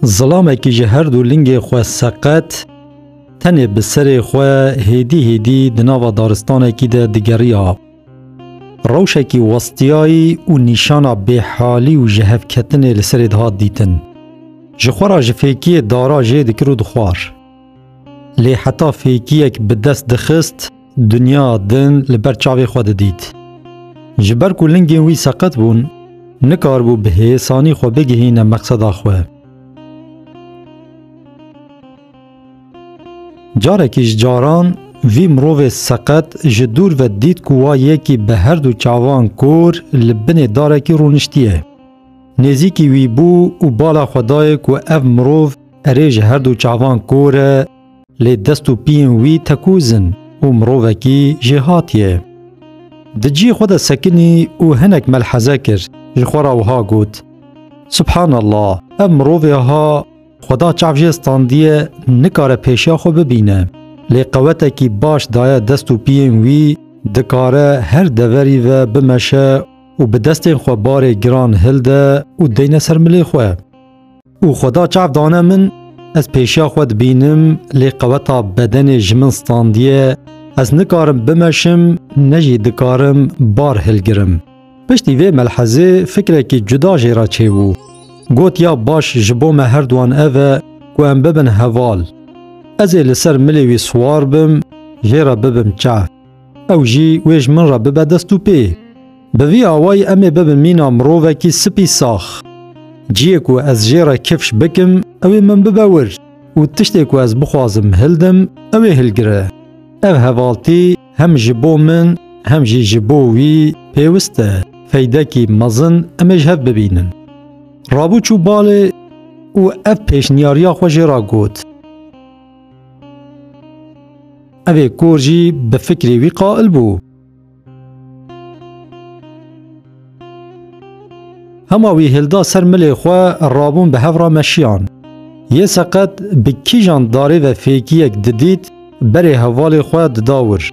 Zilamekî ji her du lingê xwe seqet, tenê bi serê xwe hêdî hêdî di nava daristanekî de digeriya. Rewşekî westiyayî û nîşana bêhalî û ji hevketinê li serê dihat dîtin. Ji xwe ra ji fêkiyê dara jê dikir û dixwar. Lê heta fêkiyek bi dest dixist, Dinya din li ber çavê xwe didît. Ji ber ku lingên wî seqet bûn, nikaribû bi hêsanî xwe bigihîne meqseda xwe. Carekî ji caran vî mirovê seqet ji dûr ve dît ku wa yekî bi her du çavan kor li binê darekî rûniştiye. Nêzîkî wî bû û bala xwe dayê ku ev mirov erê ji her du çavan kor e, Lê dest û piyên wî tekûz in û mirovekî jêhat ye. Di cî xwe de sekinî û hinek melheze kir, ji xwe re wiha got, Subhanallah, ev mirovê ha Xweda çav jê standiye nikare pêşiya xwe bibîne. Lê qewetekî baş daye dest û piyên wî, dikare her deverî ve bimeşe û bi destên xwe barê giran hilde û deyne ser milê xwe. û xweda çav dane min ez pêşiya xwe dibînim lê qeweta bedenê ji min standiye ez nikarim bimeşim ne jî dikarim bar hilgirim. Piştî vê melhezê fikrekî cuda jê re çêbû. Got ya baş ji bo me herduan ev e ku em bibin heval. Ez ê li ser milê wî siwar bim jê re bibim çav. Ew jî wê ji min re bibe dest û pê. Bi vî awayî em ê bibin mîna mirovekî spî sax. Ciyê ku ez jê re kifş bikim, ew ê min bibe wir û tiştê ku ez bixwazim hildim, ew ê hilgire. Ev hevaltî hem ji bo min hem jî ji bo wî pêwist e, feydekî mezin em ê ji hev bibînin. Rabû çû balê û ev pêşniyariya xwe jê re got. Evê kor jî bi fikrê wî qail bû. Hema wî hilda ser milê xwe rabûn bi hev re meşiyan. Yê seqet bi kîjan darê ve fêkiyek didît berê hevalê xwe dida wir.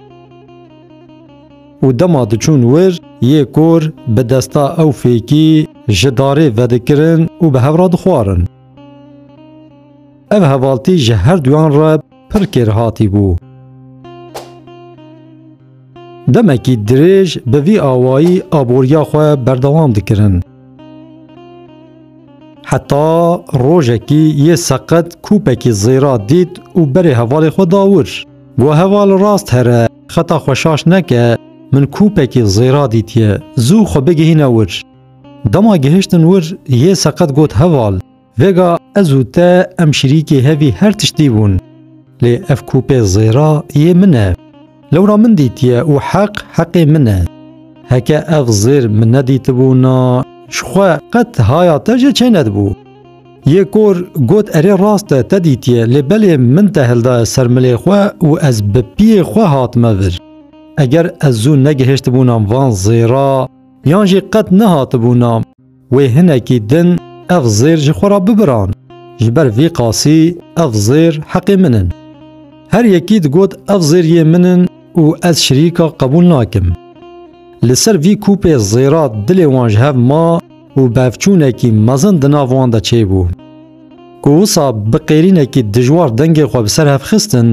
Û dema diçûn wir yê kor bi desta ew fêkî ji darê vedikirin û bi hev re dixwarin. Ev hevaltî ji her duyan re pir kêrhatî bû. Demekî dirêj bi vî awayî aboriya xwe berdewam dikirin. Heta rojekî yê seqet kûpekî zêra dît û berê hevalê xwe da wir. Got heval rast here, xeta xwe şaş neke, min kûpekî zêra dîtiye, zû xwe bigihîne wir. Dema gihiştin wir yê seqet got heval. Vêga ez û te em şirîkê hevî her tiştî bûn. Lê ev kûpê zêra yê min e. Lewra min dîtiye û heq heqê min e. Heke ev zêr min nedîtibûna ji xwe qet haya te jê çênedibû. Yê kor got erê rast e te dîtiye lê belê min te hildaye ser milê xwe û ez bi piyê xwe hatime vir. Eger ez zû negihêştibûnam van zêra yan jî qet nehatibûna. Wê hinekî din ev zêr ji xwe re bibiran, ji ber vî qasî ev zêr heqê min in. Her yekî digot ev zêr yê min in û ez şirîka qebûl nakim. Li ser vî kûpê zêra dilê wan ji hev ma û bevçûnekî mezin di nav wan de çêbû. Ku wisa bi qêrînekî dijwar dengê xwe bi ser hev xistin,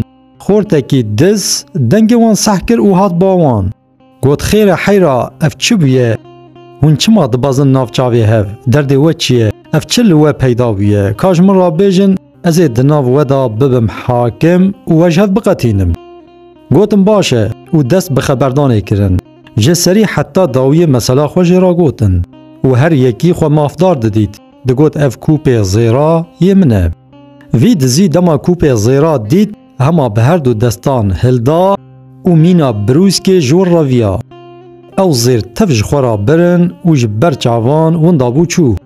xortekî diz dengê wan seh kir û hat ba wan. Got xêre heyra ev çi bûye? Hûn çima dibezin nav çavê hev? Derdê we çi ye? Ev çi li we peyda bûye? Ka ji min re bêjin ez ê di nav we de bibim hakim û we ji hev biqetînim. Gotim baş e û dest bi xeberdanê kirin. Ji serî heta dawiyê mesela xwe jê re gotin û her yekî xwe mafdar didît, digot ev kûpê zêra yê min e. Vî dizî dema kûpê zêra dît, hema bi her du destan hilda û mîna birûskê ji win re viya. Ew zêr tev ji xwe re birin û ji ber çavan winda bû çû.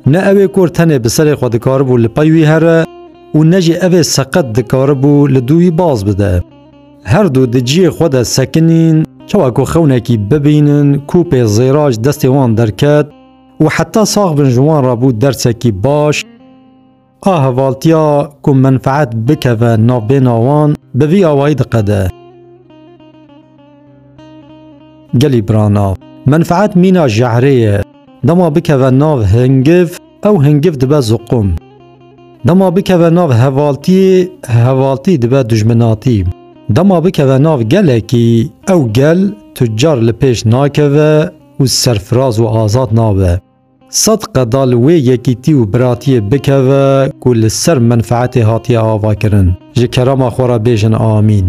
Ne ew ê kor tenê bi serê xwe dikaribû li pey wî here û ne jî ev ê seqet dikaribû li dû wî baz bide. Her du di ciyê xwe de sekinîn, çawa ku xewnekî bibînin kûpê zêra ji destê wan derket û heta sax bin ji wan re bû dersekî baş, A hevaltiya ku menfeet bikeve navbêna wan bi vî awayî diqede. Gelî birana, menfeet mîna jehrê ye. Dema bikeve nav hingiv, ew hingiv dibe ziqum. Dema bikeve nav hevaltiyê, hevaltî dibe dujminatî. Dema bikeve nav gelekî, ew gel tu car li pêş nakeve û serfiraz û azad nabe. Sed qeda li wê yekîtî û biratiyê bikeve ku li ser menfeetê hatiye avakirin. Ji kerama xwe re bêjin amîn.